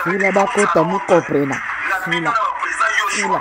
Ila bakota mukoprena. Ila. Ila.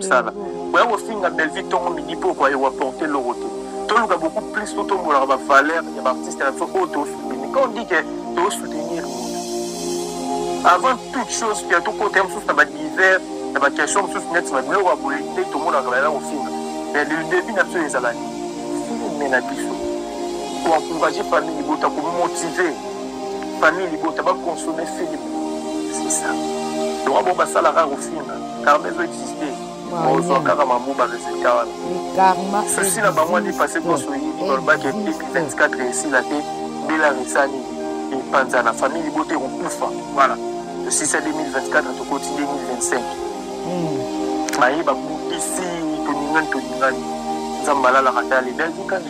mosala boya kofinga belvi ntongo midi mpo okoye waporte eloko te toluka beaucoup plus mpo tombolaka bavaleur ya baartiste na biso oyo tosoutenir quand on dit ke tosoutenir moto avant toute chose pia tokota ya mosusu na badivers na baquestion mosusu neti na biloko ya boye nde tomonaka bayala kofinga mais le début na biso ezala filme na biso ko encourager famille libota ko motiver famille libota ba consommer film c'est ça donc bon basala rare ofinga karma ezo exister ozwa kaka mambu ba résultat wana souci na bango adi passé koso oyebi balobaki 2024 esila te bela resani epanza na famille libota ekokufa voilà tosisa 2024 tokoti 2025 baye babukisi tolingani tolingani nzambe alalaka te alebelaki kani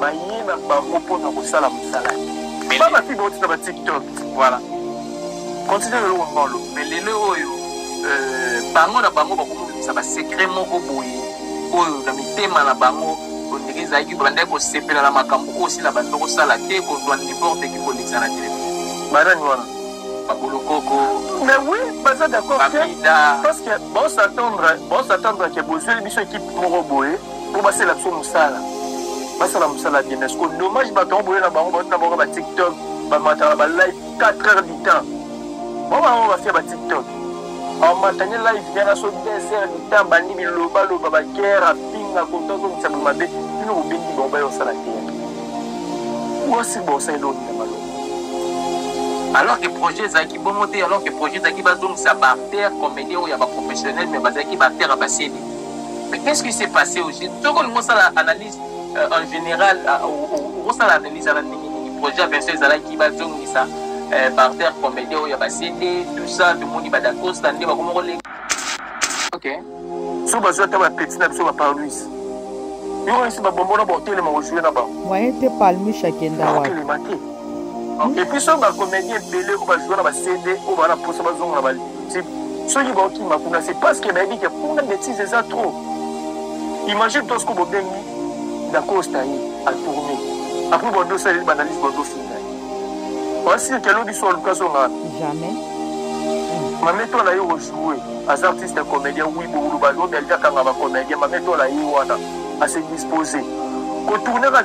baye na bango mpo na kosala mosala te ba basi bauti na batiktok voilà continue lelo wangolo mais lelo oyo euh, bango na bango bakomobimisa basekret moko boye oyo na mitema na bango ondenge ezalaki bandaki kosepela na makambo oyo osila bando kosala te kozwa niborte eki kolekisa na telefone banani wana babolokoko mais oui baza d'accord parce que bosatendre bosatendre ke bozweli biso ekipe moko boye mpo basala biso mosala basala mosala ya demesco dommage bato yango boye na bango bauti na bango ba tiktok bamataka na balive 4 heures du temps bango bango bafia ba tiktok bamatani live yana so 2 heures du temps bandi bilobaloba bagere apinga kota ozongisa bo mabe bino bobengi bango baye osala te osi bosali eloko na malo alors que projet ezalaki bongo te alors que projet ezalaki bazongisa baartère comédien oyo ya baprofessionnel mais bazalaki baartère ya basedi Mais qu'est-ce qui s'est passé au juste Soki olingi osala analyse euh, en général, euh, okosala analyse ya bandenge nini projet ya Vincent ezalaki bazongisa euh, barter comédien oyo ya basende tout ça tomoni badacosta nde bakoma kolenga ok so bazwi ata bapeti na biso baparluis yo esi babombo na baotelema ojue na bango waye te palmish akenda wapi Epuis soki ba comedien ebele oyo ba joue na ba CD oyo bana posa bazonga na ba type soki baokima kuna c'est parce que bayebi ke kuna betise eza trop imagine to soki bobengi dacosta ye atourne apres bande osaleli banalyse bande ofinga wasirke alobi so aluka azonga jamais mametola ye ojoue aza artiste comédien wi bowuluba lobi alikakanga bacomédien mametola ye wana ase dispose kotournaka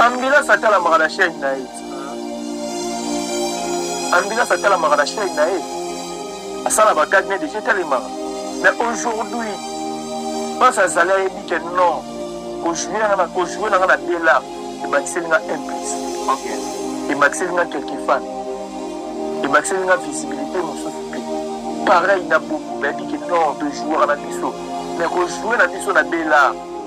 Ambulance atalamaka na chaîne na ye. Ambulance atalamaka na chaîne na ye. Asala ba gag ne déjà talemaka. Mais aujourd'hui, bas azali ayebi que non, ko jouer na ko jouer na na Bella, ebakiseli nga un plus. Okay. Ebakiseli nga quelques fans. Ebakiseli nga visibilité mosusu mpe. Pareil na Bobo, bayebi que non, to jouer na biso. Mais ko jouer na biso na Bella.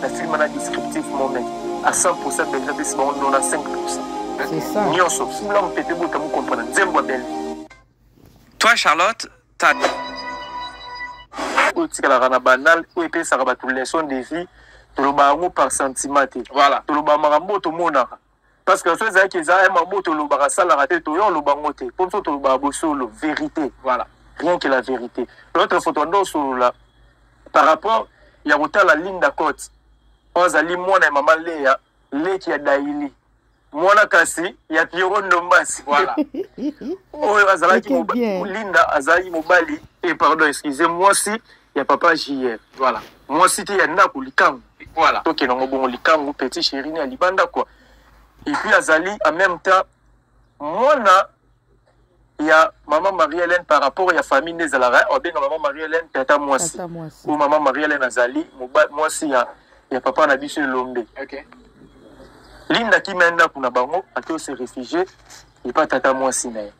na film wana descriptif moment a 100 pourcent belge apesi bango 95 pourcent nyonso fula mopepe bota mokomprana nzembo ya belge toi charlotte ta oyo etikalaka na banal oyo epesaka bato leçon de vie tolobaka yango par sentiment te voilà tolobaka makambo oyo tomonaka parce que so ezalaki eza un mambo tolobaka asalaka te toya oloba ngo te mpo biso tolobaka bosolo vérité voilà rien que la vérité l'autre fois toanda osolola par rapport ya kotala linda cote oyo azali mwana ya mama leya leki ya daili mwana kasi ya piero ndombasi voilà oyo azalaki linda azalaki mobali e pardon excuse mwasi ya papa JR. Voilà. Mwasi te ya ndako likangu. Voilà. Tokende ngo bongo likangu petit chéri ne alibanda quoi. Et puis azali en même temps mwana ya maman Marie Hélène par rapport ya famille nde ezalaka obenga maman Marie Hélène tata mwasi. Ou maman Marie Hélène azali mwasi ya ya papa na biso elombe. Okay. Linda kimia ndako na bango ake se réfugier epa tata mwasi na ye.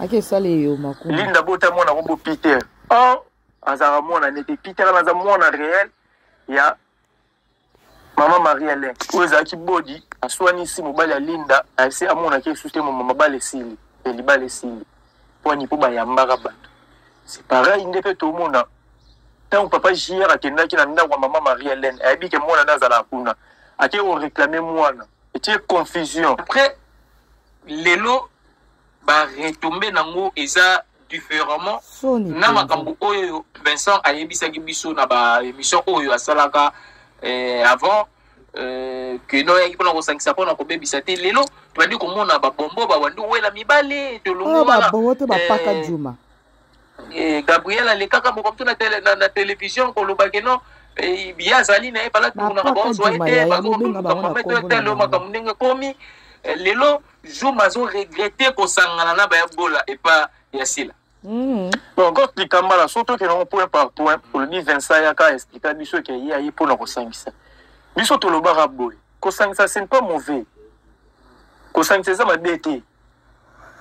ake esala eyo maku linda bota mwana kombo peter or azalaka mwana nete peter wana aza mwana réel ya mama marie alain oyo ezalaki bodi aswanisi mobali ya linda ase amonaki esusu te mama mabala esili ya libala esili pwani mpo bayambaka bato se pareil nde mpe tomona ntango papa jr akendaki na ndako ya mama marie alain ayebi ke mwana nde azalaka kuna ake koreklame mwana etie confusion après lelo ba retombe nango eza différemment na makambo oyo Vincent ayebisaki biso na ba émission oyo asalaka eh, avant Euh, que no yaki mpona kosangisa mpona kobebisa te lelo tobandi komona babombo babandi owela mibale tolongobabobo oh, te bapaka juma Eh, Gabriel alekaka mokomtu na, tele, na, na television koloba ke no eh, ye azali na ye bala tomonaka baozwa ye te bazokotelo makambo ndenge ekomi eh, lelo zuma azoregrete kosangana na bayabola epa ya sila Mm. Donc, quand les camarades sont que non, point par point, pour le dire Vincent Yaka expliqua biso que y a eu pour nous ça. Biso to le baraboi. Kosangisa c'est pas mauvais. Kosangisa ça m'a dété.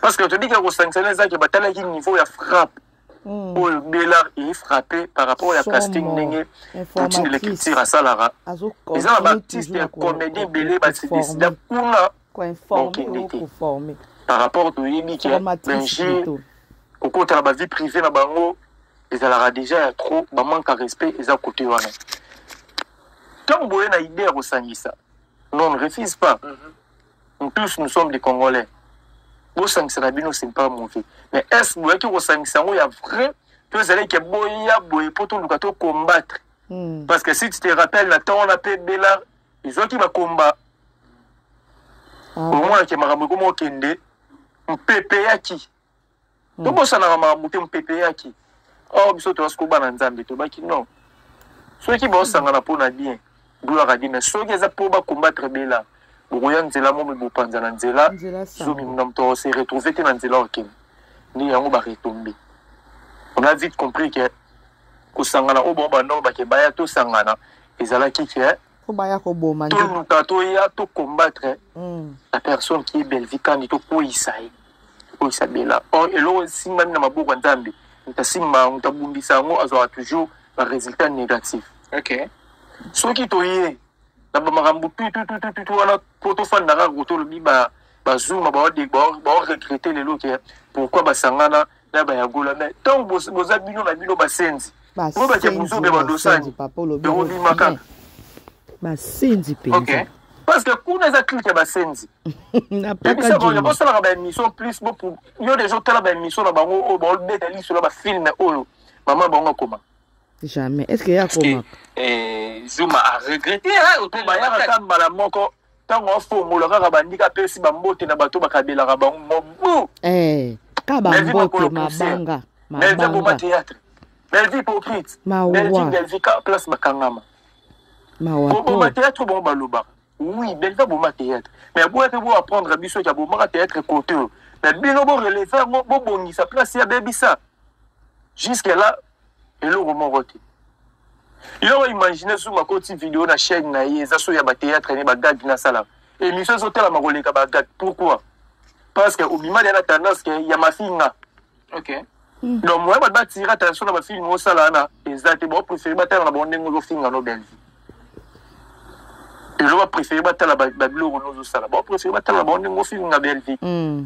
parce que toyebi ke kosangisa na ezaki batalaki niveau ya frappe hmm. oyo belard eye frappe par rapport ya casting ndenge poutine le culture asalaka eza na baartiste ya comédie ebele basidesida kuna okende te par rapport toyebi ke benji kokota na bavie privée na bango ezalaka déjà ya trop bamanque ya respect eza kote wana ntango boye na idée ya kosangisa non refuse pas mm -hmm. nous tous nous sommes des congolais bosangisa na bino c'est pas mauvais mais est ce boyaki kosangisa yango ya vrai to ezalaki boya boye mpo toluka to combattre hmm. parce que si tu te rappelle na ntango wana mpe bela ezwaki bakomba ah. omonaki makambo ekoma okende mpe epeyaki hmm. tobosanaka makambo te mopepe eyaki awa oh, biso toyasi kobana nzambe tobaki non soki baosangana mpo na bien gloire adi mais soki eza mpo bakombatre bela bokoya nzela momi bopanza na nzela zomi na moto ose retrouve te na nzela okende nde yango baretombe on a vite compris ke kosangana oyo bango banoko bake baya tosangana ezalaki ke po baya koboma nde toluka toya to combattre mm. la personne qui est bellevie kandi tokweyisa ye tokweyisa bela or eloko esimbami na maboko ya nzambe moto asimba yango moto abundisa yango azwaka toujours baresultat négatif okay. soki toye na bamakambo tututututu wana po tofanda kaka kotolobi bazuma baoregrete lelo ke pourkui basangana na ba ya gola mais tant boza bino na bino basenzi bo ba jamuzobe ba dosani yango bima kaka basenzi mpenza okay. parce que kuna eza clike ya basenzi bosalaka baémission plus yo deja otala baémission na bango oyo baobeta liso na bafilme oyo mama bango akoma jamais est ce que ye akomaka eh, zuma aregrete otobayaka ata mbala moko ntango afongola kaka bandika apesi bambote na bato bakabelaka bango mobu eh, ka bambote mabanga melvi aboma théâtre melvi hypocrite melvi melvi ka place bakangama koboma théâtre bango balobaka oui melvi aboma théâtre mais aboya mpe bo apprendre biso ete abomaka théâtre cote oyo mais bino boreleve yango bobongisa place ya bebisa jusque là eloko moko te yo imagine soki bakoti video na chaîne na ye eza soki ya bateatre ne bagag nasalaka émission ezotalama koleka bagag pourquoi parce que obimali na tendance ke ya mafinga okay. Hmm. donc moya bato batira attention na bafilme osala wana eza te baopréféré batala na bango ndenge ozofinga no bellevue eloko bapréféré batala babiloko nozosala baopréféré batala na bango ndenge ofinga bellevue hmm.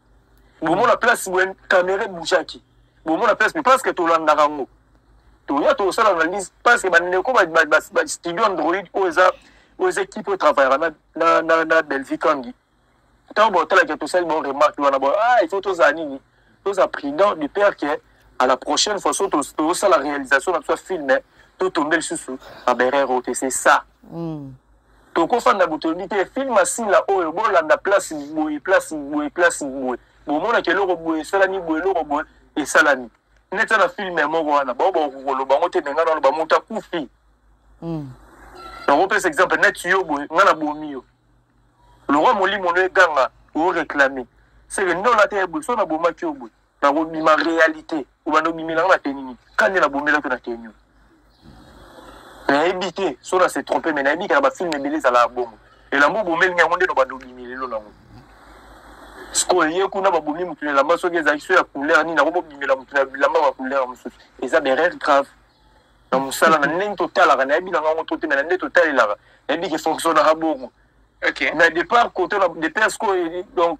bomona place wen kamere boujaki bomona place mais parce que tolandaka yango toya tosala analyse parce que bandeko bastudio android oyo eza oyo eza ekipe oyo travaillaka na belvi kangi ntango botalaka tosali bo remarque wana bo ah il faut tozala nini tozala prudent du père que à la prochaine fois so tosala réalisation na biso ya film to tombe lisusu na berere oyo te c'est ça mm. tokofanda boto yebi te film asila oyo bolanda place boye place boye place boye bomonaka eloko boye esalami boye eloko boye esalami neti na filme ya moko wana bao bakokoloba yango te me ngai naloba moto akufi hmm. nakopesa exemple neti yo boye ngai nabomi yo lokwa molimo no eganga oreklame seke nde olata ye boye so nabomaki yo boye nakobima realite obanda obimelanga na te nini kande nabomelaki na te nini nayebi te so na se trompe mai nayebi kaka bafilme ebele ezalaka bongo elamba obomelingi yango nde nobanda obimi lelo nango sikoyo ye kuna babomi motu na elamba soki ezalaki so ya couleur nini yango bobimela motu na bilamba ya couleur mosusu eza berere grave na mosala na ndenge totalaka nayebi nanga yango toteme na nde totalelaka nayebi ke fonctionnaka bongo na départ kote na départ sikoyo donc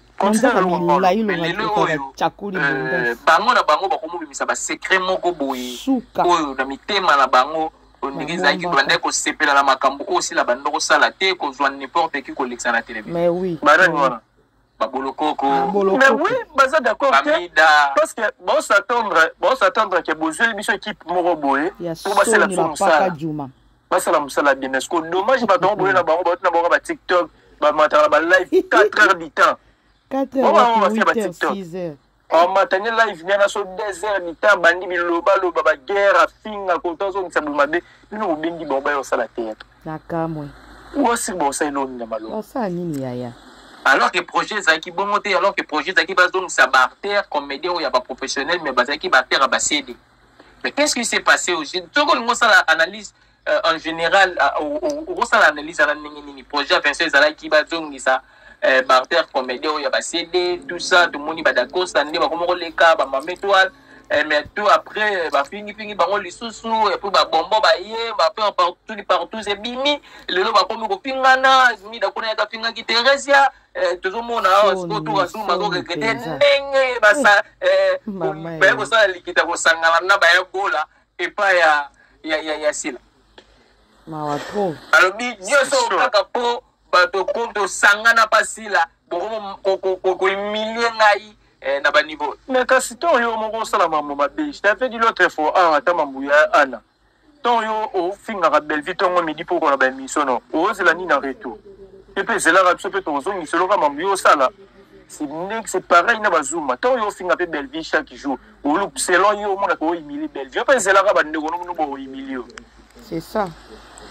manzaka milayi lokaka cakuli euh, bango na bango bakomobimisa basekre moko boye oyo na mitema na bango ndenge ezalaki banda kosepela na makambo oyo osila banda kosala te kozwa n'importe ki kolekisa na television babolokoko mais oui baza d'accord te parce que baosattendre baosattendre ke bozweli biso équipe moko boye po basala biso mosala basala mosala bien mais siko dommage bato yango boye na bango bauti na bango ba tiktok bamataka na ba live 4 heures du temps basi ba tiktok amatani live miana so 2 heures du temps bandi bilobaloba baguerre afinga kota ozongisa boye mabe bino bobendi bango baye osala teyaka nakamwe osi bosala eloko nini ya maloba osala nini yaya alors que projet ezalaki bongo te alors que projet ezalaki bazongisa baartère comédien oyo ya baprofessionnel mais bazalaki baartère ya basede Mais qu'est-ce qui s'est passé au Génie Soki olingi osala analyse euh, en général, okosala euh, analyse ya na ndenge nini projet ya Vincent ezalaki bazongisa euh, barter comédie oyo ya bacd tout ça tomoni badacosta nde bakoma koleka bamama étoile euh, mais tout après bafingifingi bango lisusu epuis babombo baye bapeur partout partout ebimi lelo bakomi kofingana mida kuna yaka afingaki theresia Eh, tozomona awa oh, sikoyo tokasuma tokegrete ndenge baye eh, eh. kosala likita kosangana na baya gola epai ya sila mawa trop alobi nyonso kaka mpo bato mpo tosangana mpa sila bokoimilie ngai na baniveau mais kasi ntango yo moko osala mambo mabe je t'avais dit l'autre fois awa ah, ata mambo ya ana to yo ofingaka belvi tongo midi mpo okona baemission no ozela nini na retour ye mpe ezelaka biso mpe tozongisa eloka mambo yo osala c'est pareil na bazuma to yo ofinga mpe belvi chaque jour olup selon yo omonaka oimilie belvi yo mpe ezelaka bandeko nokuno booimilie yo c'est ça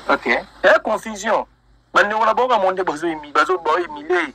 ok e confusion bandeko na bango kamo nde bazoimilie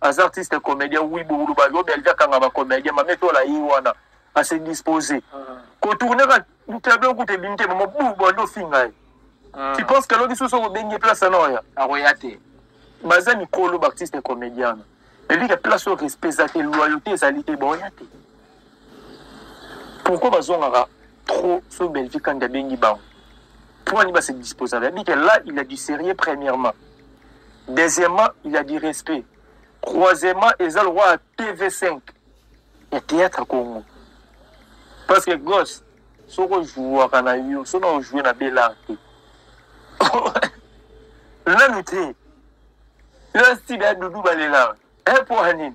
aza artiste comédien oui boloba yo belge akanga ba comédien mame tola ye wana ase dispose ah. kotourne ka tableau kuta ebimi te mama bu bande ofinga ye ah. tu penses que aloki susu okobengi place ana oya akoya te baza mikolo baartiste comédien na elike place oyo respect eza te loyauté ezali te baoya te pourquoi bazongaka trop so bellevie kandi abengi bango mpo ani base disposaka yabi ke là il a du sérieux premièrement deuxièmement il a du respect troisièmement eza lokola ya tv5 ya théâtre congo parce que gosse soki ojouaka na yo soki ojoue na belart te nanu te yo sibe ya dudu balelaka epo anini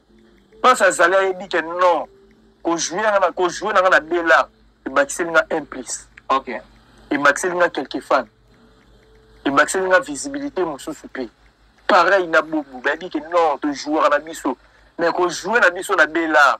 place azali ayebi ke non kojouer nga na kojouer na nga na bela ebakiseli nga un plus okay. ebakiseli nga quelque fan ebakiseli nga visibilité mosusu mpe pareil na bobu bayebi ke non tojouaka na biso mais kojouer na biso na bela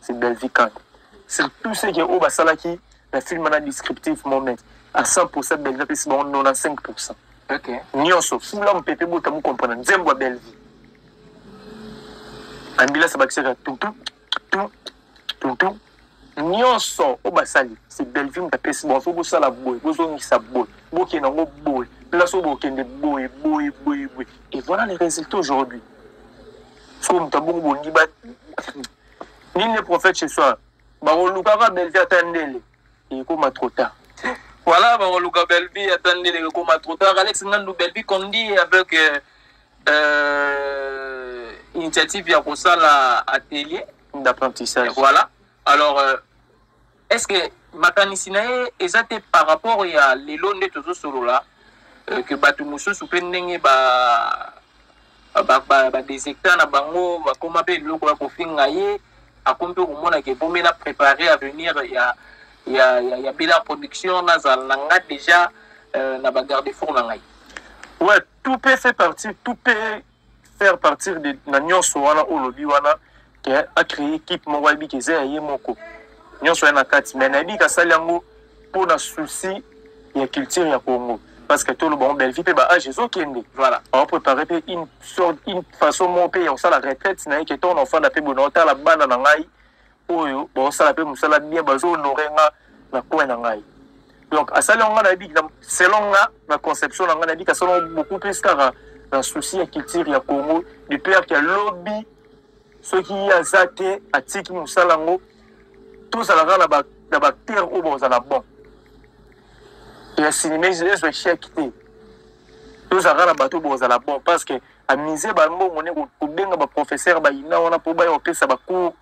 c'est Bellevue Kanda c'est tout ce que oyo basalaki na film wana descriptive moment à 100% Bellevue apesi bango 95% okay. nyonso fula mopepe bota mokomprena nzembo ya Bellevue ambulance bakisaka tutu tutu tutu nyonso oyo basali c'est Bellevue moto apesi bango fo bosala boye bozongisa boye bokende yango boye place oyo bokende boye boye boye boye et voilà les résultats aujourd'hui soko moto abongo bondi ba nini ne prophète ce soir bakolukaka belvi ata ndele ekoma trop tard voilà bakoluka belvi ata ndele ekoma trop tard alex ngandu belvi condi avec euh, euh, initiative ya kosala atelier d'apprentissage voilà alors euh, Est-ce que makanisi na ye eza te par rapport ya lelo nde tozo solola euh, que bato mosusu mpe ndenge ba badesecta na bango bakoma mpe biloko ya kofinga ye akomi mpe komona ke bomi na préparer avenir ya, ya, ya, ya bela production nazala na nga déjà euh, na bagarde four na ngai ouais, tout peut fait partie tout peut faire partir de na nyonso wana oyo olobi wana ke acree équipe moko ayebi ke eza ya ye moko nyonso ya na kati mai nayebi ke asali yango mpo na souci ya culture ya congo parce que toloba yango bellevie mpe baage ezokende voilà aoprépare mpe une sorte une façon moko mpe ya kosala retraite na ye ke ntongo na ofanda mpe boye na otala bana na ngai oyo baosala mpe mosala bien bazo honore nga na coin na ngai donc asali yango nga nayebi selon nga na conception na nga nayebi kasala beaucoup plus kaka na souci ya culture ya congo de père ya lobi soki ye aza te atiki mosala yango tozalaka na bacteur oyo bakozala bon ya sinima ezwa echec te tozalaka na bato bakozala bon parce que amise bambongo ne kobenga baprofesseur bayina wana mpo baya kopesa bacours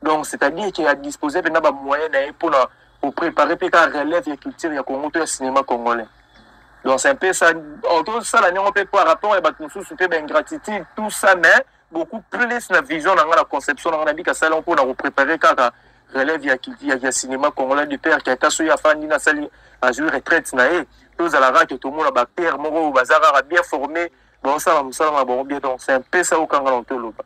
donc c'est-à-dire ke adispose mpenza bamoyen na ye mpo na koprépare mpe kaka relève ya culture ya congo to ya cinéma congolais donc c'est un peu ça tosala ndenge mpe par rapport ya bato mosusu mpe baingratitude tout ça mais beaucoup plus na vision na ngai na conception na ngai nabika salon mpo na koprépare kaka relève ya, ya, ya cinéma congolais du père kaka soki afandi nasali azwi retraite na ye tozala kaka ke tomona bapere moko oyo baza kaka bien formé baosala mosala na bango bien donc c'est un peu ça okanga na otoloba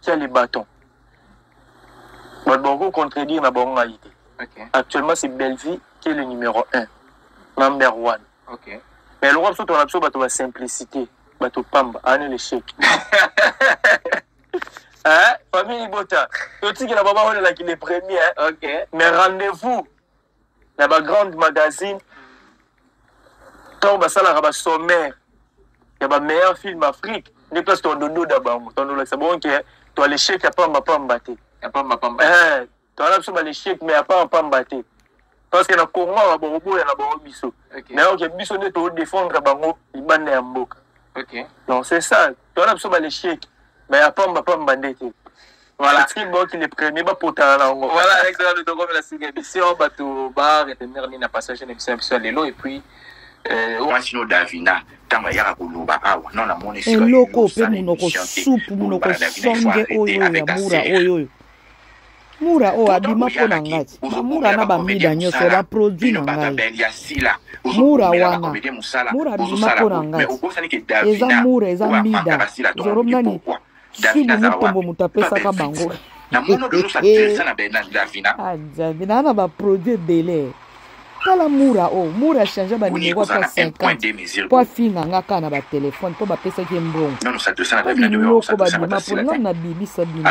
tia le bâton bato bakoki contredire na bango ngai te okay. actuellement c'est bellevie qui est le numéro 1 number 1 okay. mais lokola biso tona biso bato basimplicité bato pamba ane l'échec hein? famille libota totikela baba olelaki le premier hein? okay. mais rendez-vous na ba grande magazine ntango basalaka ba sommaire ya ba meilleur film afrique nde place toandododa bango toandolakisa bango ke to alechec ya pamba pamba te eh, toala biso balechec mais ya pamba pamba te parce que na congo awa bakoboya na bango biso mais oke biso nde toodefendre bango libanda ya mboka donc c'est ça towana biso balesheke me ya pamba pamba nde te voilà tri boki le premier bapotana na yango voilà alex rado tokomela sika emission bato baretenir nini na passage na emission ya biso ya lelo et puis euh, mwasi no davina ntango ayaka koloba awa no namoni eloko mpe monoko supu monoko songe oyo ya mura oyo oyo mura oyo oh, abima mpo na ngai bamura na bamida nyonso baproduit na ngai mura wana mura abima mpo na ngai eza mura eza mida zoro nani swibu mutombo moto apesaka bango ajabi naa na baproduit ebele tala mura oyo oh, mura achange banimero ata 50 mpo afinga nga kaka na batelefone mpo bapesaki mbongo biloko babima mpo ngai nabimisa bino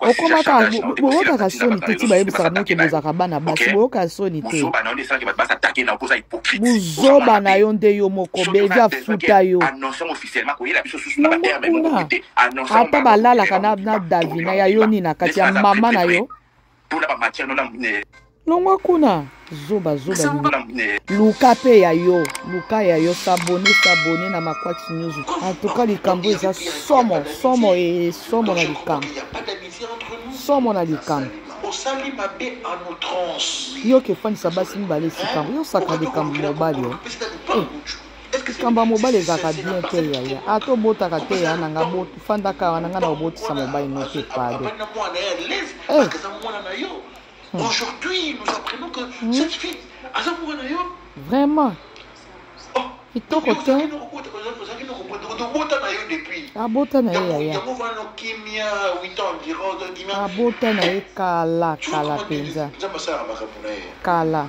okomaka boyokaka soni te ti bayebisaka bino ke bozalaka bana basi boyokaka soni te buzoba na yo nde yo moko bevi afuta yo kuna ata balalaka na davina ya yo nini na kati ya mama na yo Tuna ba matière nona mune. Longwa kuna zoba zoba luka mpe ya yo luka ya yo sabone sabone na maquax news antuka likambo eza somo somo e somo na likambo somo na likambo osali mabe en outrance yo kefandisa basi mibale esika yango yosaka likambo mobali o likambo ya mobali ezalaka bien te yaya ata ah, obotaka te ya na nga fandaka wana nga na obotisa mobali no te pado eh. hmm. Aujourd'hui, nous apprenons que hmm. cette fille, aza mwana na yo. Vraiment. Oh, kitoko te. Abota na ye yaya. Abota na ye kala kala mpenza. Kala.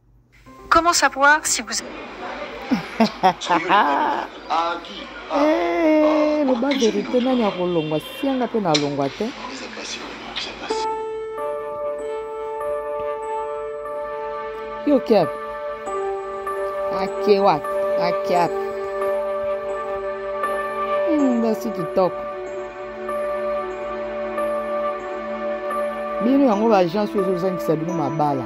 Comment savoir si vous Eh, loba verite nani akolongwa sianga mpe nalongwa te yo cap ake wapi ake wapi basi kitoko bino yango baagence oyo ezozangisa bino mabala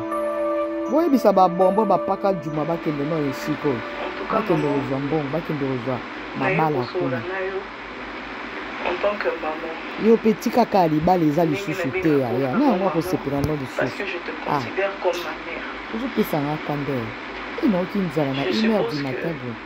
boyebisa babombo bapaka juma bakende no esika oyo bakende kozwa mbongo bakende kozwa mabala kuna yo mpe tikaka libala eza lisusu te yaya na yango akosepela no lisusu ah. ozopesa nga kanda oyo inaoki nzala na une heure du matin boye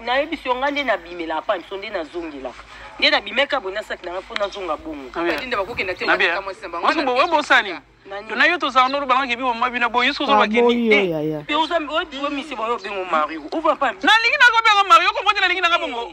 nayebisi yo ngai nde nabimela apa biso nde nazongelaka nde nabimeka boye nasaki nanga mpo nazonga bongobosani tona yo tozala nolo balangaki bino mama bino boye soki ozolobakenialingi nakobenga mario okomoti nalingi nanga bongo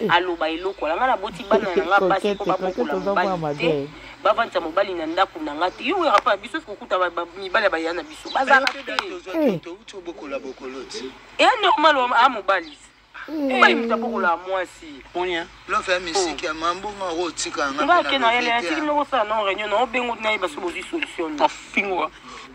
Eh. aloba eloko wana ngai naboti bana na ngai basi mpo babokola mobali te bavandisa mobali na ndako na ngai te yo oyaka mpo na biso sikokuta mibali ya baya na biso bazalaka te eya normal a mobali mobali moto abokolaka mwasi ngake na yele yatiki nokosala na réunion na obengo nayeba so bozwi solution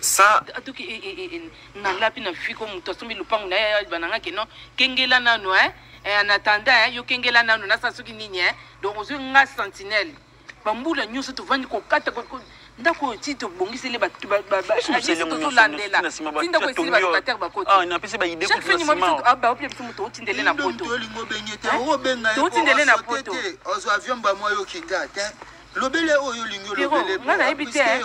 sa atoki e, e, e, nalapi na fiko moto asombi lopango na ye bananga ke non kengela nano e en attendant yo kengela nano nasala soki nini e donc ozwi nga sentinelle bambula nyonso tovandi kokata ndako oyo ti tobongiseli tolandela ti ndako esili babatere bakotibaopia biso moto otindele na pototindele na poto lobele oyo olingi olobele nga nayebi te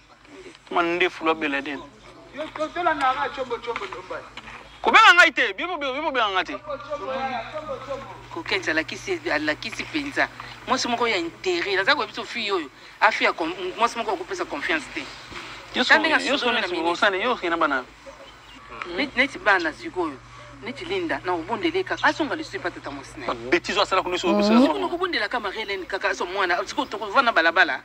mandefu lwa beladen kobenga ngai te bibobenga ngai te kokens alakisi alakisi mpenza mwasi moko ya intere naza koyebi so fille oyo afi ya mwasi moko akopesa confiance te yososana bana neti bana sikoyo neti linda na obondele kaka asonga lisusu epa tata mwasi na yebetizo asala kunakobondelaka marie helene kaka aso mwana sikoyo tokovanda balabala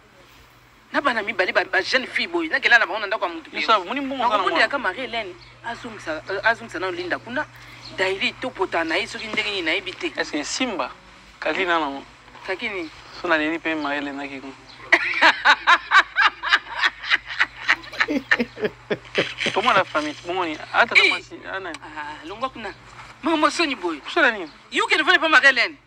na bana mibale ba jeune fille boye nakela na bango na ndako ya motu nakomonela ka marie helene azongisa euh, nano linda kuna daili topota na ye soki ndenge nini nayebi te est ce que simba kaki na nango kaki nini so naleli mpe marie helene akiko tomona famille bomoni atalongwa ah, kuna makambo soni boye sona nini yoke nefani mpe marie helene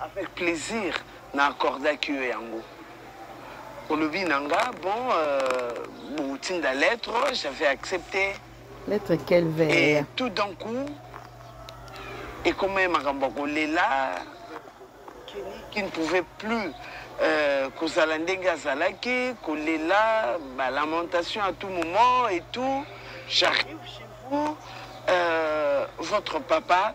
Avec plaisir na accordaki yo yango. Olobi na nga bon euh, botinda lettre, j'avais accepté. Lettre quel vers? Et tout d'un coup ekomaki makambo ya kolela qui ne pouvait plus euh, kozala ndenge azalaki kolela balamentation à tout moment et tout j'arrive chez vous euh, votre papa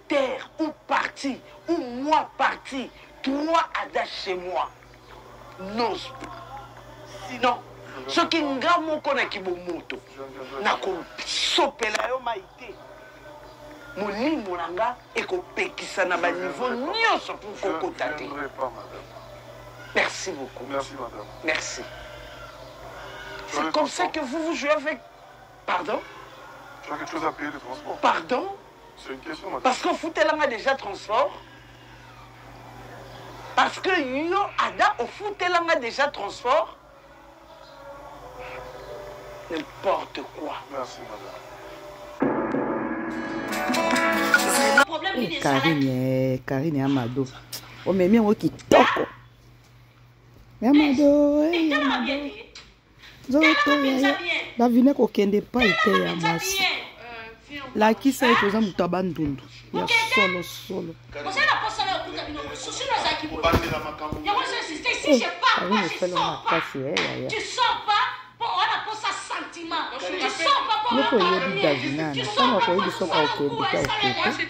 terre ou parti ou moi parti trois ada chez moi nos sinon soki nga moko na kibomoto nakosopela yo mai te molimo na nga ekopekisa na baniveau nyonso mpo kokota te merci beaucoup merci, madame. merci. c'est comme ça que vous vous jouez avec pardon tu as quelque chose à payer de transport pardon parce que ofutela nga déjà transport parce que yo ada ofutela nga déjà transport n'importe quoi merci madame karine eh, karine ya mado omemi yango kitoko ya mado eh, ya mado nzoto yaya davine kokende epai te ya mwasi lakisa ye toza moto ya bandundu ya solo solo yoko oyebi davinana ntango akoyebi soki okende te okende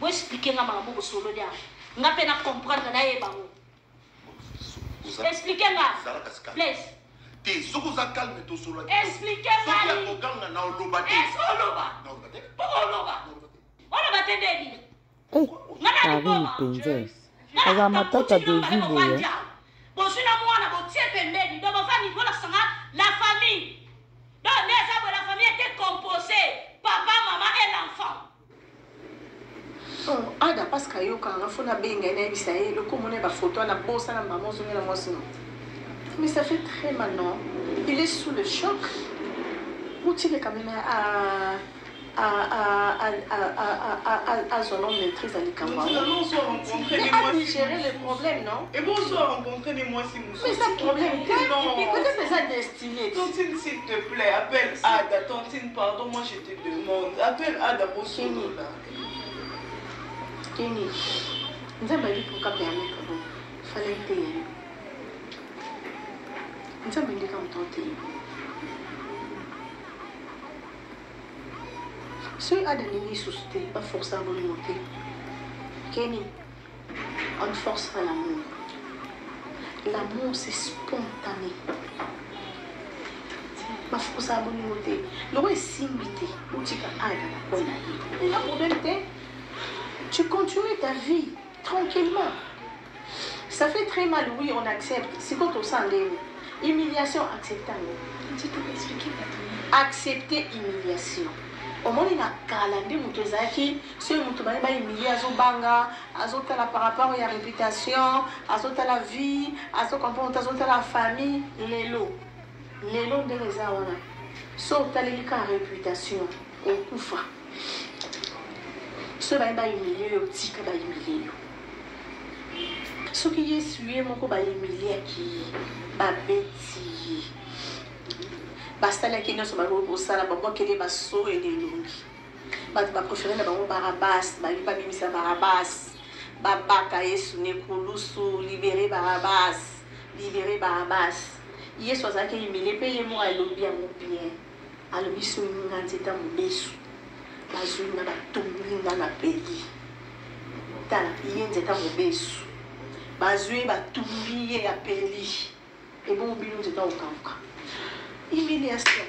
Bo expliquer nga makambo bosololi awa. Nga pe na comprendre na yeba ngo. Expliquer nga. Please. te soki oza calme tosolola soki ya koganga na oloba te oloba te ndebi karine mpenza aza matata devi boye bozwi na mwana botie pembeni do bofandi bolakisanga la famille do nde eza boye la famille ete compose papa mama et l'enfant Oh, ada paske ayoka nga fo nabenga ye nayebisa ye eloko omona ye bafoto wana bosana mama ozongela mwasi no mais ça fait très mal non il est sous le choc motileka meme azwa no maîtrise ya likambo yangoagere le problème non eza problème te peut-être eza destiné te demande appel ada bosoni ba keni nzambe ali mpoka permettre bo fala eteya yo nzambe ndeka moto oteya soki ada ndenge lisusu te baforsa bolingo te keni On ne force pas l'amour. L'amour, c'est spontané. bafuku osala bolingo te loko esimbi te otika aya na poi na ye eza problème te tu continues ta vie tranquillement ça fait très mal oui on accepte sikoyo tosala ndenge humiliation accepte yango accepte humiliation omoni na kala nde moto ezalaki soki moto baye bahumilie azobanga azotala par rapport ya réputation azotala vie azocomprendre te azotala famille lelo lelo ndenge eza wana so otaleli kaka réputation okufa soki baye bahumilie yo tika bahumilie yo soki yesu ye moko bahumiliaki ye babeti ye basalaki nyonso bakoki kosala babwakeli baso elelongi bato ba prefere na bango barabas balingi babimisa barabas babaka yesu nekulusu libere barabas libere barabas yesu azalaki humile mpe ye moko alobi yango bien alobi soki nga nzeta mobesu bazwi nga batumbi nga na peli tala ye nzeta mobesu bazwi batumbi ye ya peli ebongo bino nzeta okauka humiliation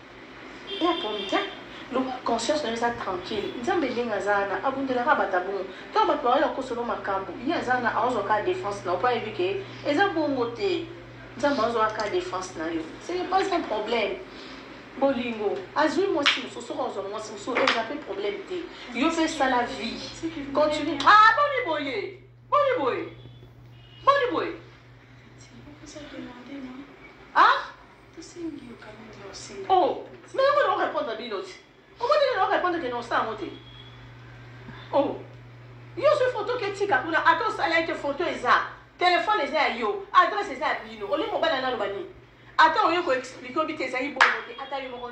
Yaka mtia loba conscience nayo eza tranquille nzambe ndenge aza wana abundelaka bato ya bongo ntango bato baoyo akosolo makambo ye aza wana aozwa kaka defense na yo mpo ayebi ke eza bongo te nzambe aozwa kaka defense na yo ce n'est pas un problème bolingo azwi mwasi mosusu soki ozwa mwasi mosusu eza mpe problème te yo mpe sala vie continue ah boni boye boni boye boni boye ah Tosengi yo kani nde osenga. Oh, mais yango na répondre bino ti. Omoni nini na répondre que na osala yango te. Oh. Yo zwi photo ke tika kuna ata osala ye te photo eza. Téléphone eza ya yo, adresse eza ya bino. Olingi mobali analoba nini? Ata oye ko expliquer obi te ezali bongo te ata yo moko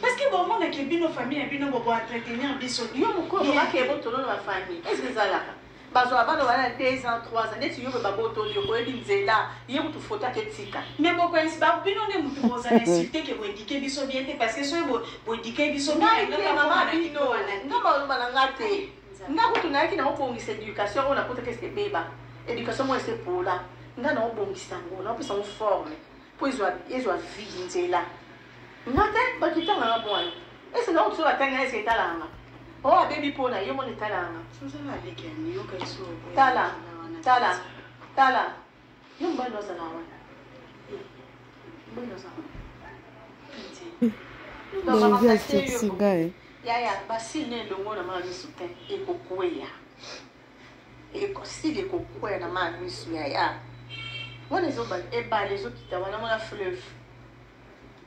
Parce que bon mona que bino famille ya bino bobo entretenir biso. Yo mukolo ba ke botolo na famille. Est-ce que zalaka? bazwa bana wana 2 ans 3 ans neti yo mpe babotoli yo boyebi nzela ye kutu foto ake tika mais bokoyesi bino nde motu bozala insulte ke boedike biso bien te parce que soki boedike biso biengama bino nga baloba na nga te nga kutu nayaki na kobongisa éducation oyo nakotaki ese ebeba éducation moko ese pola nga na kobongisa yango na kopesa yango forme mpo ezwa ezwa vie nzela nga te bato etanga nga mpo wana ese na otuso batangi nga ese etalaka nga o abebi mpo na ye mona etalaka nga tala tala tala yo mobali ozala wana mobali ozala wana Bonjour, c'est Sigaï. yaya basili na elongo na mwana miso te ekokweya ekosili kokwea na maa misu ya ya wana ezoba ebale ezokita wana mwana fleuve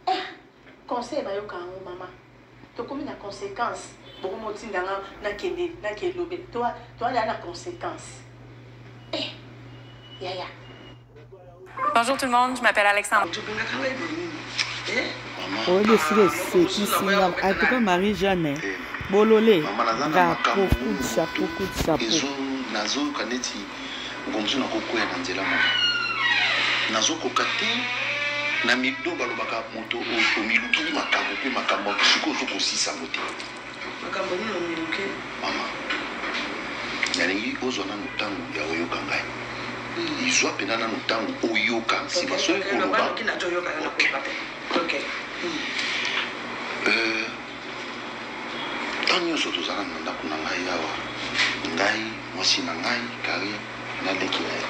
eh, conseil bayoka yango mama tokomi na conséquence bokomi otinda nga nakende nakelobela toalala na conséquence eh, yaya Bonjour tout le monde, je m'appelle Alexandre. oyebi esika esekisi nga atuka marie jeanne bolole ngakokutisa kokutisa po nazoyoka neti mokomosu nakokwea na nzela moko nazokoka te na mido balobaka moto omilukili makambo mpe makambo sikoyo ozokosisa yango te Makambo nini omiluke? Mama, nalingi ozwa nanu ntango ya oyoka ngai. Izwa mpenza nanu ntango oyoka nsima soki koloba. Okay. Euh, ntango nyonso tozala na ndako na ngai awa ngai mwasi na ngai kari na leki na ye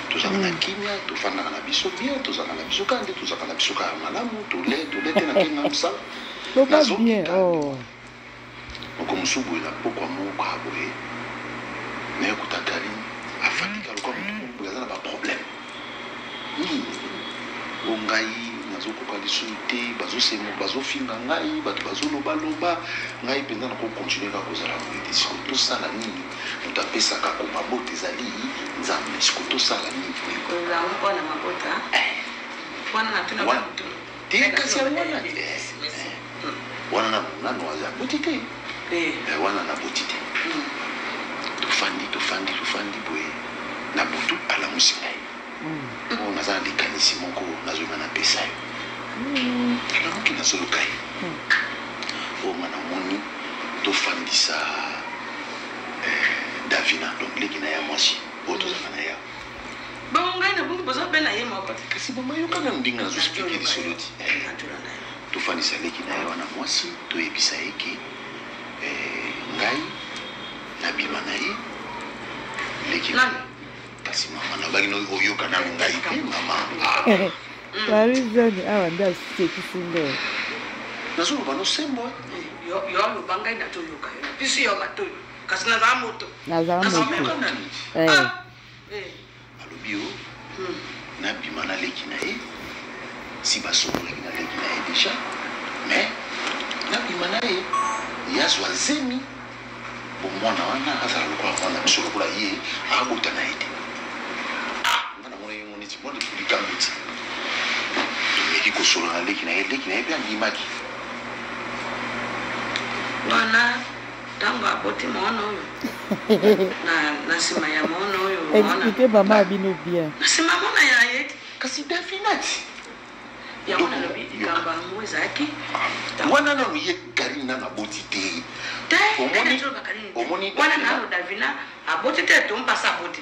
tozalaka na kimia tofandaka na biso bien tozalaka na biso kaka nde tozalaka na biso kaka malamu tole tole te na kenda mosala loba bien oh. moko mosusu boye na pokwa moko ya boye naye kuta kaline afandika lokwa motu boye aza na baproblème nini o ngai nazokoka lisusu te bazosengo bazofinga ngai bato bazolobaloba ngai mpenza nakokontinue kaka kozala boye te siko tosala nini moto apesaka ko mabota ezali nzambe siko tosala nini wana natuna Te kasi yango wana te. Wana na nanu aza aboti te. Wana na boti te. Tofandi tofandi tofandi boye na butu alamusi ngai. Bongo naza na likanisi moko nazoyeba napesa yo. Alamuki nazoluka ye. Bongo namoni tofandisa Davina donc leki na ya mwasi oyo tozalaka na ye awa. Bongo ngai na bongo bozo bela ye moko. Kasi mama yoka na ndinga azo expliquer lisolo ti. Tofandisa leki na ye wana mwasi toyebisa ye ke eh, ngai nabima na ye leki na ye kasi mama nabaki oyoka nanu ngai te mama marizani awa nde asekisi nde nazoloba nosembo yo aloba ngai nazoyoka yo na biso yo matoyo kasi nazala moto nazala moto eh. ah. eh. alobi yo hmm. nabima na leki na ye si basokolaki na leki na ye deja mais nabima na ye ye azwa zemi bo mwana wana azala lokola mwana biso lokola ye abota na ye te ah, nga namona ye moniti mwa likambo ti tomeki kosolola na leki na ye leki na ye mpe andimaki wana ntango aboti mwana oyo na nsima ya mwana oyo explike mama ya bino bien na nsima mwana ya ye kasi dafinati yango nalobi likambo yango ezalaki wana nano ye karine nano aboti te omoni wana nano davina aboti te tompasi aboti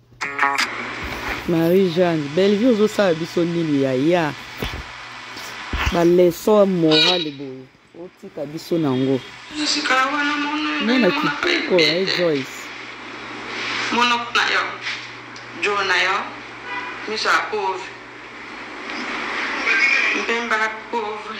Marie Jeanne, Bellevue ozosala biso nini yaya? Ba leçon morale boye otika biso nango. Mwana kitoko ya eh, Joyce. Monoko na yo, jo na yo, miso ya pauvre. Mpemba pauvre.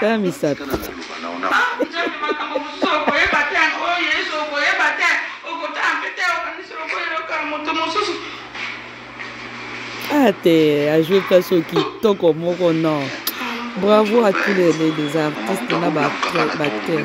ta misato ate ajouer place oyo kitoko moko non bravo à tous les, les, les artistes na baacteur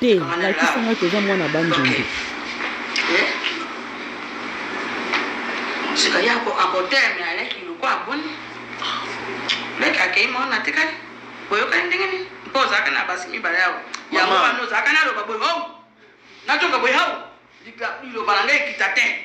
te lakisa ngai toza mwana bandundu eh? sika ya akoteme aleki loko aboni leki akei mwana atikali boyokani ndenge nini mpo ozalaka na basi mibale yawo yango wana ozalaka naloba boye hau natonga boye hau liloba na ngai ekita te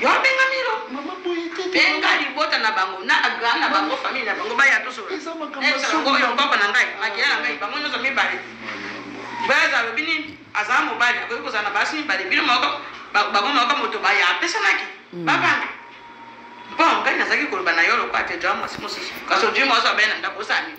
yo abenga milo mama boye te benga libota na bango na grand na bango famille na bango baya toso eza makambo oyo papa na ngai makila na ngai bango nyonso mibale baza alobi nini azala mobali akoki kozala na basi mibale bino moko bango moko moto baya apesanaki mm. babanga mpo ngai nazalaki koloba na yo lokola te jwa mwasi mosusu kasi ojui mwasi abali na ndako osala nini